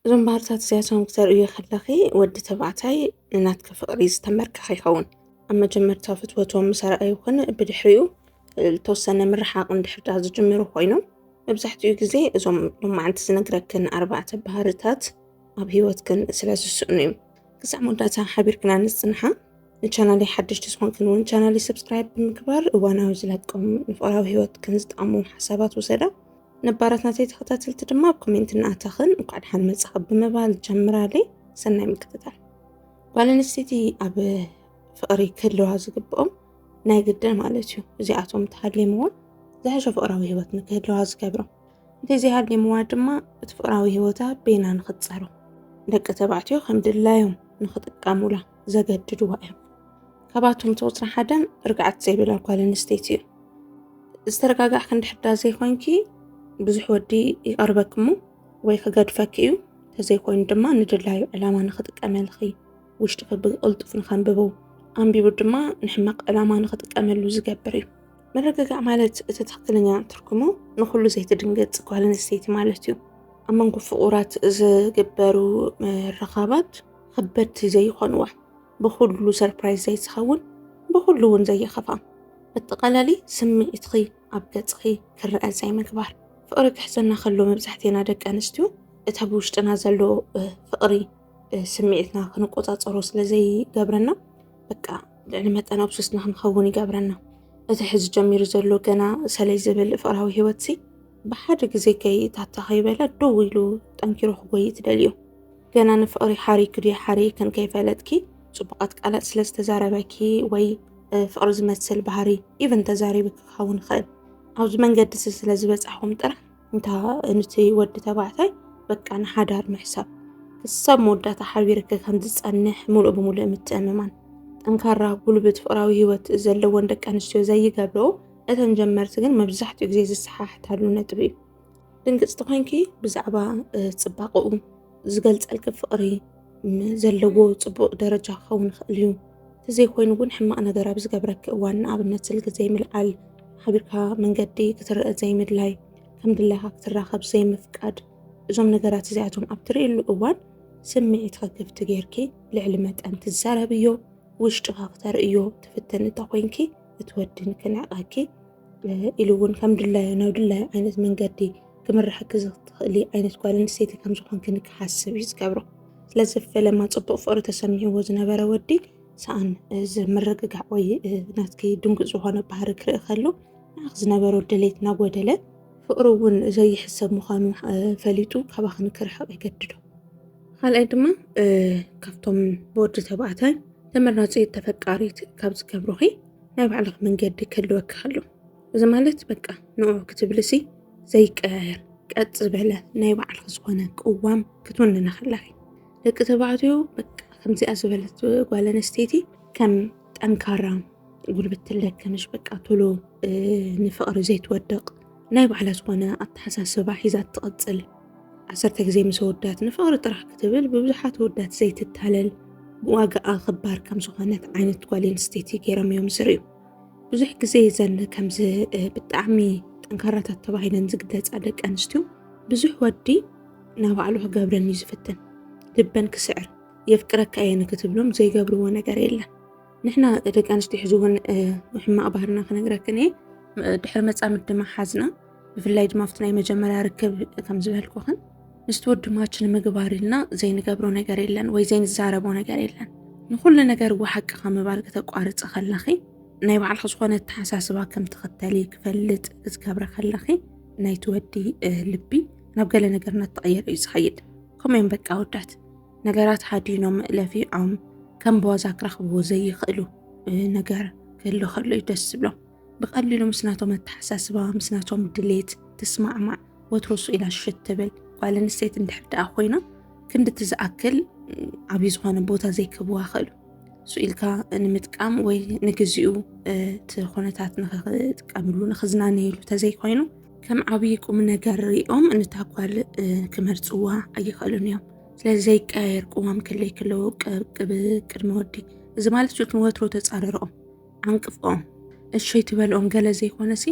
እዞም ባህርታት እዚኣቶም ክተርእዮ ከለኺ ወዲ ተባዕታይ ንናትኪ ፍቕሪ ዝተመርካኸ ይኸውን ኣብ መጀመርታ ፍትወቶም ምስ ኣርኣዩ ኹን ብድሕሪኡ ዝተወሰነ ምርሓቕ እንድሕር ዳኣ ዝጅምሩ ኮይኖም መብዛሕትኡ ግዜ እዞም ሎማዓንቲ ዝነግረክን ኣርባዕተ ባህርታት ኣብ ሂወትክን ስለ ዝስእኑ እዮም ክሳዕ መወዳእታ ሓቢርክና ንጽንሓ ንቻናለይ ሓደሽቲ ዝኾንክን እውን ቻናለይ ሰብስክራይብ ብምግባር እዋናዊ ዝለቆም ንፍቕራዊ ሂወትክን ዝጠቕሙ ሓሳባት ውሰዳ ነባራት ናተይ ተኸታተልቲ ድማ ኣብ ኮሜንት እናኣተኽን እንኳዕ ደሓን መጻኺ ብምባል ጀምራለይ ሰናይ ምክትታል ጓል ኣንስተይቲ ኣብ ፍቕሪ ክህልዋ ዝግብኦም ናይ ግድን ማለት እዩ እዚኣቶም ተሃሊምዎ ዝሐሸ ፍቕራዊ ህይወት ንክህልዋ ዝገብሮም እንተዘይሃሊምዋ ድማ እቲ ፍቕራዊ ህይወታ ቤና ንክትፀሮ ደቂ ተባዕትዮ ከም ድላዮም ንክጥቀሙላ ዘገድድዋ እዮም ካባቶም ተወፅራ ሓደ ርግዓት ዘይብላ ጓል ኣንስተይቲ እዩ ዝተረጋጋዕ ክንዲ ሕዳ ዘይኮንኪ ብዙሕ ወዲ ይቐርበኪ እሞ ወይ ክገድፈኪ እዩ ተዘይኮይኑ ድማ ንድላዩ ዕላማ ንክጥቀመልኺ ውሽጢ ክቢ ቅልጡፍ ንከንብቡ ኣንቢቡ ድማ ንሕመቕ ዕላማ ንክጥቀመሉ ዝገብር እዩ ምርግጋዕ ማለት እቲ ትክክለኛ ትርጉሙ ንኩሉ ዘይትድንገፅ ጓል ኣንስተይቲ ማለት እዩ ኣብ መንጎ ፍቑራት ዝግበሩ ምርኻባት ከበድቲ ዘይኾንዋ ብኹሉ ሰርፕራይዝ ዘይትኸውን ብኹሉ እውን ዘየኸፋ እትቐለሊ ስምዒትኺ ኣብ ገጽኺ ክረአ ዘይምግባር ፍቕሪ ክሕዘና ከሎ መብዛሕቴና ደቂ ኣንስትዮ እቲ ኣብ ውሽጥና ዘሎ ፍቕሪ ስምዒትና ክንቆፃፀሮ ስለዘይገብረና በቃ ልዕሊ መጠን ኣብሱስና ክንኸውን ይገብረና እቲ ሕዚ ጀሚሩ ዘሎ ገና ሰለይ ዝብል ፍቕራዊ ህይወትሲ ብሓደ ግዜ ከይታታ ከይበለ ደው ኢሉ ጠንኪሮ ክጎይ ትደልዩ ገና ንፍቕሪ ሓሪኪ ድዩ ሓሪይክን ከይፈለጥኪ ፅቡቓት ቃላት ስለ ዝተዛረበኪ ወይ ፍቕሪ ዝመስል ባህሪ ኢቨን ተዛሪብኪ ክኸውን ይኽእል ኣብዚ መንገዲ ስለ ዝበፃሕኹም ጥራሕ እንታ ንቲ ወዲ ተባዕታይ በቃ ንሓዳር ምሕሳብ ክሳብ መወዳእታ ሓቢርኪ ከም ዝፀንሕ ሙሉእ ብሙሉእ ምትእምማን ጠንካራ ጉልብት ፍቅራዊ ሂወት ዘለዎን ደቂ ኣንስትዮ ዘይገብረኦ እተን ጀመርቲ ግን መብዛሕትኡ ግዜ ዝሰሓሕታሉ ነጥቢ እዩ። ድንግፅቲ ኮይንኪ ብዛዕባ ፅባቐኡ ዝገልፀልኪ ፍቕሪ ዘለዎ ፅቡቕ ደረጃ ክኸውን ይኽእል እዩ ተዘይኮይኑ እውን ሕማቕ ነገር ኣብ ዝገብረኪ እዋን ንኣብነት ስልኪ ዘይምልዓል ሓቢርካ መንገዲ ክትርአ ዘይምድላይ ከም ድላይካ ክትራኸብ ዘይምፍቃድ እዞም ነገራት እዚኣቶም ኣብ ትርእሉ እዋን ስምዒት ክክፍቲ ጌርኪ ልዕሊ መጠን ትዛረብዮ ውሽጥኻ ክተርእዮ ትፍትን እንተ ኮይንኪ እቲ ወድን ክንዕቐኪ ኢሉ እውን ከም ድላዩ ናብ ድላዩ ዓይነት መንገዲ ክምርሓኪ ዝኽእሊ ዓይነት ጓል ኣንስተይቲ ከም ዝኾንኪ ንክሓስብ እዩ ዝገብሮ። ስለዚ ፈለማ ፅቡቕ ፍቕሪ ተሰሚዕዎ ዝነበረ ወዲ ሰኣን ዝምርግጋዕ ወይ ናትኪ ድንጉፅ ዝኾነ ባህሪ ክርኢ ከሎ ንዓኺ ዝነበሮ ድሌት ናጎደለ ፍቕሪ እውን ዘይሕሰብ ምዃኑ ፈሊጡ ካባኺ ንክርሕቕ ይገድዶ። ካልኣይ ድማ ካብቶም ብወዲ ተባዕታይ ተመራፂ ተፈቃሪት ካብ ዝገብሩኺ ናይ ባዕልኽ መንገዲ ክህልወኪ ከሎ እዚ ማለት በቃ ንዑ ክትብልሲ ዘይቀያየር ቀጥ ዝበለ ናይ ባዕልኽ ዝኾነ ቅዋም ክትውንነ ከለኺ ደቂ ተባዕትዮ በቃ ከምዚኣ ዝበለት ጓል ኣንስተይቲ ከም ጠንካራ ጉልበት ትለክምሽ በቃ ቶሎ ንፍቕሪ ዘይትወድቕ ናይ ባዕላ ዝኾነ ኣተሓሳስባ ሒዛ ትቕፅል ዓሰርተ ግዜ ምስ ኣወዳት ንፍቕሪ ጥራሕ ክትብል ብብዙሓት ኣወዳት ዘይትታለል ብዋጋኣ ኽባር ከም ዝኾነት ዓይነት ጓል ኣንስተይቲ ገይሮም እዮም ዝርእዩ። ብዙሕ ግዜ እዘን ከምዚ ብጣዕሚ ጠንካራታት ተባሂለን ዝግለፃ ደቂ ኣንስትዮ ብዙሕ ወዲ ናባዕሉ ክገብረን እዩ ዝፍትን ልበን ክስዕር የፍቅረካ እየ ንክትብሎም ዘይገብርዎ ነገር የለን ንሕና ደቂ ኣንስትዮ ሕዚ እውን ሕማቕ ባህርና ክነግረክን እየ ድሕሪ መፃምድ ድማ ሓዝና ብፍላይ ድማ ኣብቲ ናይ መጀመርያ ርክብ ከም ዝበልኩኽን ምስቲ ወድማች ንምግባር ኢልና ዘይንገብሮ ነገር የለን ወይ ዘይንዛረቦ ነገር የለን ንኩሉ ነገር እዋ ሓቂ ካብ ምባል ከተቋርፂ ከለኺ ናይ ባዕልኺ ዝኾነ ኣተሓሳስባ ከም ትኽተሊ ክፈልጥ ክትገብረ ከለኺ ናይቲ ወዲ ልቢ ናብ ገለ ነገር እናተቐየረ እዩ ዝኸይድ ከምኡ እዮም በቃ ወዳት ነገራት ሓዲኖም ለፊዖም ከም ብዋዛ ክረኽብዎ ዘይኽእሉ ነገር ክህሉ ከሎ እዩ ደስ ዝብሎም ብቐሊሉ ምስ ናቶም ኣተሓሳስባ ምስ ናቶም ድሌት ትስማዕማዕ ወትሮ ሱ ኢላ ሽት ትብል ጓል ኣንስተይቲ እንድሕር ደኣ ኮይና ክንድቲ ዝኣክል ዓብዪ ዝኾነ ቦታ ዘይክህብዋ ክእሉ ሱ ኢልካ ንምጥቃም ወይ ንግዚኡ እቲ ኩነታት ንክጥቀምሉ ንክዝናነየሉ ተዘይኮይኑ ከም ዓብዪ ቁም ነገር ሪኦም ንታ ጓል ክመርፅዋ ኣይኽእሉን እዮም ስለዚ ዘይቀያየር ቅዋም ክለይ ክለዎ ቅብ ቅድሚ ወዲ እዚ ማለት ሹት ንወትሮ ተፃርርኦም ኣንቅፍኦም እሸይ ትበልኦም ገለ ዘይኮነሲ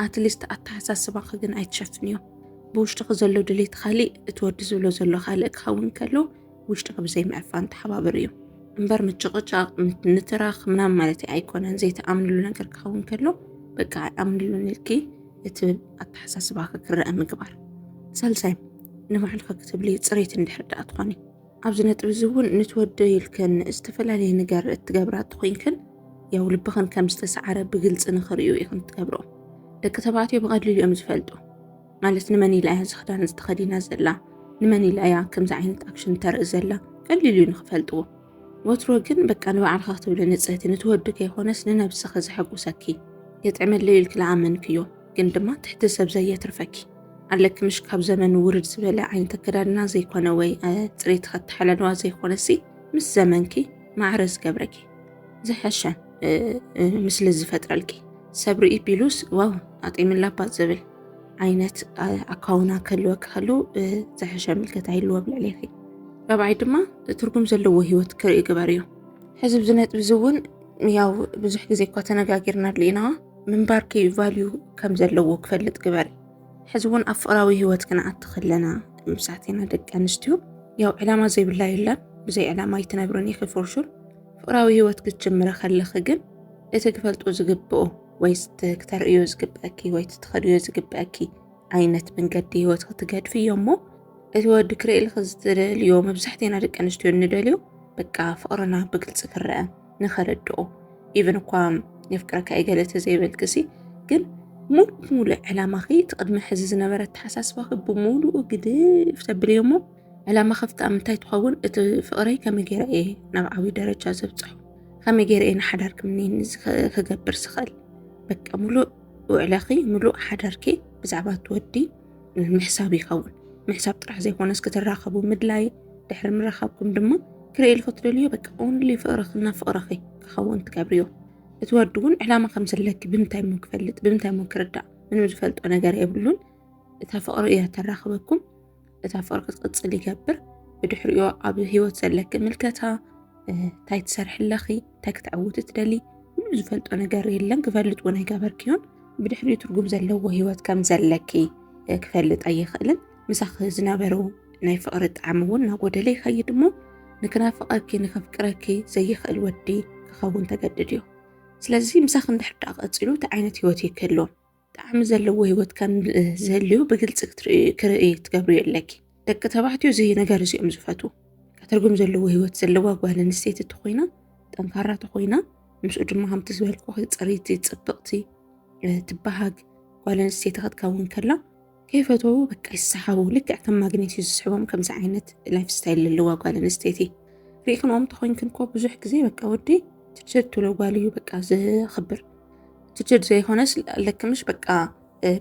ኣትሊስት ኣተሓሳስባኺ ግን ኣይትሸፍንዮ ብውሽጥኺ ዘሎ ድሌት ኻሊእ እቲ ወዲ ዝብሎ ዘሎ ኻልእ ክኸውን ከሎ ውሽጥኺ ብዘይምዕፋን ተሓባብር እዩ እምበር ምጭቕጫቕ ንትራኽ ምናምን ማለት ኣይኮነን ዘይተኣምንሉ ነገር ክኸውን ከሎ በቃ ኣይኣምንሉን ኢልኪ እቲ ኣተሓሳስባኺ ክረአ ምግባር ሳልሳይ ንባዕልኺ ክትብሊ ፅሬት እንድሕር ድኣ ትኾኒ ኣብዚ ነጥቢ እዚ እውን ንትወደዩ ኢልክን ዝተፈላለየ ነገር እትገብራ እተኾይንክን ያው ልብኽን ከም ዝተሰዓረ ብግልፂ ንክርእዩ ኢኽን ትገብርኦ። ደቂ ተባዕትዮ ብቐሊሉ እዮም ዝፈልጡ። ማለት ንመን ኢላ እያ እዚ ክዳን እዚ ተኸዲና ዘላ፣ ንመን ኢላ እያ ከምዚ ዓይነት ኣክሽን ተርኢ ዘላ ቀሊል እዩ ንክፈልጥዎ። ወትሮ ግን በቃ ንባዕልኺ ክትብሊ ንፅህቲ ንትወዲ ከይኾነስ ንነብስኺ ዘሐጉሰኪ የጥዕመለይ ኢልኪ ልኣመንክዮ ግን ድማ ትሕቲ ሰብ ዘየትርፈኪ ኣለኪ ምሽ ካብ ዘመን ውርድ ዝበለ ዓይነት ኣከዳድና ዘይኮነ ወይ ፅሬት ከተሓለልዋ ዘይኮነሲ ምስ ዘመንኪ ማዕረ ዝገብረኪ ዝሐሸ ምስሊ ዝፈጥረልኪ ሰብ ርኢ ቢሉስ ዋው ኣጤምላ ኣባት ዝብል ዓይነት ኣካውና ከልወኪ ከሉ ዝሐሸ ምልከታ ይልዎ ብልዕሌኺ ራብዓይ ድማ ትርጉም ዘለዎ ሂወት ክርኢ ግበር እዩ ሕዚ ብዚ ነጥቢ እዚ እውን ያው ብዙሕ ግዜ እኳ ተነጋጊርናሉ ኢና ምንባርኪ ቫልዩ ከም ዘለዎ ክፈልጥ ግበሪ። ሕዚ እውን ኣብ ፍቕራዊ ህይወት ክንኣቲ ከለና ምሳት ኢና ደቂ ኣንስትዮ ያው ዕላማ ዘይብላ የለን ብዘይ ዕላማ ኣይትነብርን ኢኺ ፎርሹር። ፍቕራዊ ህይወት ክትጅምረ ከለኺ ግን እቲ ክፈልጦ ዝግብኦ ወይ ክተርእዮ ዝግብአኪ ወይ ትኸድዮ ዝግብአኪ ዓይነት መንገዲ ህይወት ክትገድፊ እዮ እሞ እቲ ወዲ ክርእልኺ ዝትደልዮ መብዛሕትኤና ደቂ ኣንስትዮ እንደልዮ በቃ ፍቕርና ብግልፂ ክረአ ንኸረድኦ ኢቨን እኳ የፍቅረካ እየ ገለ ተዘይበልክሲ ግን ሙሉእ ሙሉእ ዕላማኺ እቲ ቅድሚ ሕዚ ዝነበረ ኣተሓሳስባኺ ብምሉኡ ግድፍ ተብልዮ እሞ ዕላማ ከፍታ ምንታይ ትኸውን እቲ ፍቕረይ ከመይ ገይረ እየ ናብ ዓብዪ ደረጃ ዘብፅሖ ከመይ ገይረ እየ ንሓዳር ክምኒን ክገብር ዝኽእል በቃ ሙሉእ ውዕለኺ ሙሉእ ሓዳርኪ ብዛዕባ እትወዲ ምሕሳብ ይኸውን። ምሕሳብ ጥራሕ ዘይኮነስ ክትራኸቡ ምድላይ ድሕሪ ምራኻብኩም ድማ ክርእል ክትደልዮ በቃ ኦንሊ ፍቕርኽና ፍቕርኺ ክኸውን ትገብርዮ እቲ ወዲ እውን ዕላማ ከም ዘለኪ ብምንታይ ሞ ክፈልጥ ብምንታይ ሞ ክርዳእ ምንም ዝፈልጦ ነገር የብሉን እታ ፍቕሪ እያ ተራኽበኩም እታ ፍቕሪ ክትቅፅል ይገብር ብድሕሪኦ ኣብ ሂወት ዘለኪ ምልከታ እንታይ ትሰርሕለኺ እንታይ ክትዕውቲ ትደሊ ምንም ዝፈልጦ ነገር የለን ክፈልጥ እውን ኣይገበርክዮን ብድሕሪኡ ትርጉም ዘለዎ ህይወት ከም ዘለኪ ክፈልጥ ኣይኽእልን ምሳኺ ዝነበሩ ናይ ፍቕሪ ጣዕሚ እውን ናጎደለ ይኸይድ እሞ ንክናፍቐኪ ንከፍቅረኪ ዘይኽእል ወዲ ክኸውን ተገድድ እዩ ስለዚ ምሳኺ እንድሕር ደኣ ቀፂሉ እቲ ዓይነት ህይወት እዩ ክህልዎ ጣዕሚ ዘለዎ ህይወት ከም ዝህልዩ ብግልፂ ክርእይ ትገብርዮ ኣለኪ ደቂ ተባዕትዮ እዚ ነገር እዚኦም ዝፈትዉ ትርጉም ዘለዎ ሂወት ዘለዋ ጓል ኣንስተይቲ ተኾይና ጠንካራ ተኾይና ምስኡ ድማ ከምቲ ዝበልኩ ፅርይቲ ፅብቕቲ ትበሃግ ጓል ኣንስተይቲ ክትከውን ከላ ከይፈተዉ በቃ ይሰሓቡ ልክዕ ከም ማግኔት እዩ ዝስሕቦም ከምዚ ዓይነት ላይፍ ስታይል ዘለዋ ጓል ኣንስተይቲ ሪኢክንኦም ተኮይንክን ኮ ብዙሕ ግዜ በቃ ወዲ ትችድ ትብሎ ጓል እዩ በቃ ዝኽብር ትችድ ዘይኮነስ ለክምሽ በቃ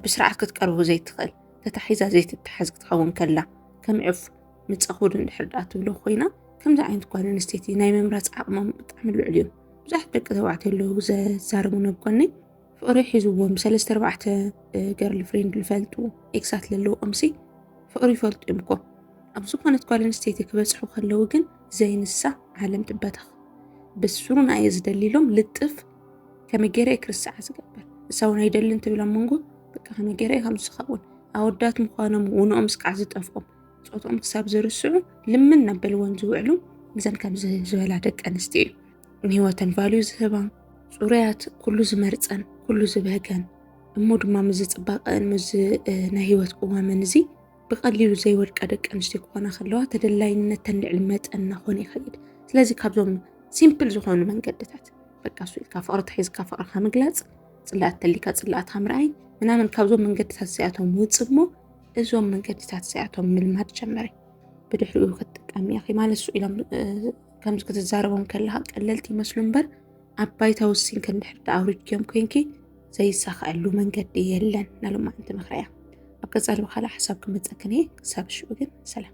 ብስርዓት ክትቀርቡ ዘይትኽእል ተታሒዛ ዘይትተሓዝ ክትኸውን ከላ ከም ዑፍ ንጸኹድ እንድሕር ደኣ ትብሎ ኮይና ከምዚ ዓይነት ጓል ኣንስተይቲ ናይ ምምራጽ ዓቕሞም ብጣዕሚ ልዑል እዩ። ብዙሓት ደቂ ተባዕትዮ ኣለዉ ዘዛርቡ ነብጎነይ ፍቕሪ ሒዝዎም ሰለስተ ኣርባዕተ ገርል ፍሬንድ ዝፈልጡ ኤክሳት ዘለውኦምሲ ፍቕሪ ይፈልጡ እዮም እኮ ኣብ ዝኾነት ጓል ኣንስተይቲ ክበፅሑ ከለዉ ግን ዘይንሳ ዓለም ትበተኽ ብስሩና እየ ዝደሊሎም ልጥፍ ከመይ ገይረ እየ ክርስዓ ዝገብር እሳውን ኣይደልን ትብል ኣብ መንጎ በቃ ከመይ ገይረ ከም ዝኸውን ኣወዳት ምዃኖም ውንኦም ስካዕ ዝጠፍኦም ፆትኦም ክሳብ ዝርስዑ ልምን ናበልወን ዝውዕሉ እዘን ከምዚ ዝበላ ደቂ ኣንስትዮ እዩ ንህይወተን ቫልዩ ዝህባ ፅሩያት ኩሉ ዝመርፀን ኩሉ ዝበገን እሞ ድማ ምዝ ፅባቀን ምዝ ናይ ህይወት ቅዋመን እዚ ብቐሊሉ ዘይወድቃ ደቂ ኣንስትዮ ክኾና ከለዋ ተደላይነተን ልዕሊ መጠን እናኾነ ይኸይድ። ስለዚ ካብዞም ሲምፕል ዝኾኑ መንገድታት በቃ እሱ ኢልካ ፍቕሪ ተሒዝካ ፍቕርካ ምግላፅ፣ ፅላኣት ተሊካ ፅላኣትካ ምርኣይ ምናምን ካብዞም መንገድታት እዚኣቶም ውፅእ እሞ እዞም መንገድታት እዚኣቶም ምልማድ ጀመሪ። ብድሕሪኡ ክትጥቀሚ ኢኺ ማለት እሱ ኢሎም ከምዚ ክትዛረቦም ከለካ ቀለልቲ ይመስሉ እምበር ኣብ ባይታ ውሲንኪ እንድሕር ዳኣ ኣውሪድክዮም ኮንኪ ዘይሳኸዐሉ መንገዲ የለን ናሎማዓንቲ ምክረያ ኣብ ቀፃሊ ብካልእ ሓሳብ ክመፀክን እየ ክሳብ ሽዑ ግን ሰላም።